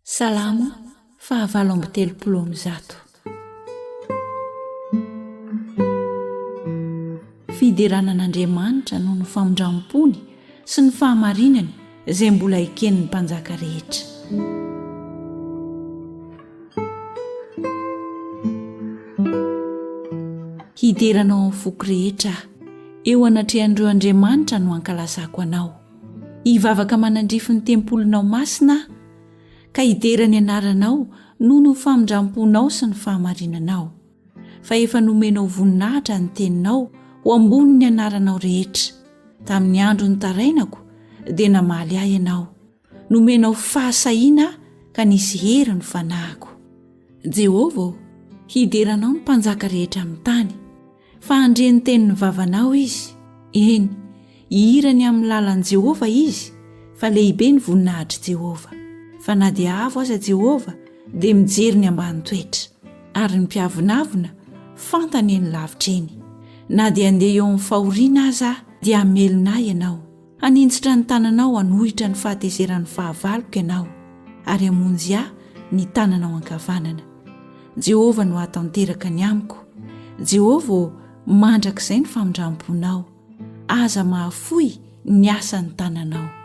Salamo faha valo amby telopolo amby zato. Fiderana an'Andriamanitra noho ny famindram-pony sy ny fahamarinany izay mbola eken'ny mpanjaka rehetra. Hidera anao amin'ny foko rehetra aho, eo anatrehan'ireo andriamanitra no hankalazako anao. Hivavaka manandrify ny tempolinao masina aho, ka hidera ny anaranao noho ny famindram-ponao sy ny fahamarinanao. Fa efa nomenao voninahitra ny teninao ho ambonin'ny anaranao rehetra. Tamin'ny andro nitarainako, dia namaly ahy ianao. Nomenao fahasahiana aho, ka nisy hery ny fanahiko. Jehovah ô, hidera anao ny mpanjaka rehetra amin'ny tany. Fa handre ny tenin'ny vavanao izy, eny, hihira ny amin'ny lalan'i Jehovah izy, fa lehibe ny voninahitr'i Jehovah. Fa na dia avo aza Jehovah, dia mijery ny ambany toetra, ary ny mpiavonavona, fantany eny lavitra eny. Na dia handeha eo amin'ny fahoriana aza aho, dia hamelona ahy ianao. Haninjitra ny tananao hanohitra ny fahatezeran'ny fahavaloko ianao, ary hamonjy ahy ny tananao ankavanana. Jehovah no hahatanteraka ny amiko. Jehovah ô, mandrakizay ny famindram-ponao. Aza mahafoy ny asan'ny tananao.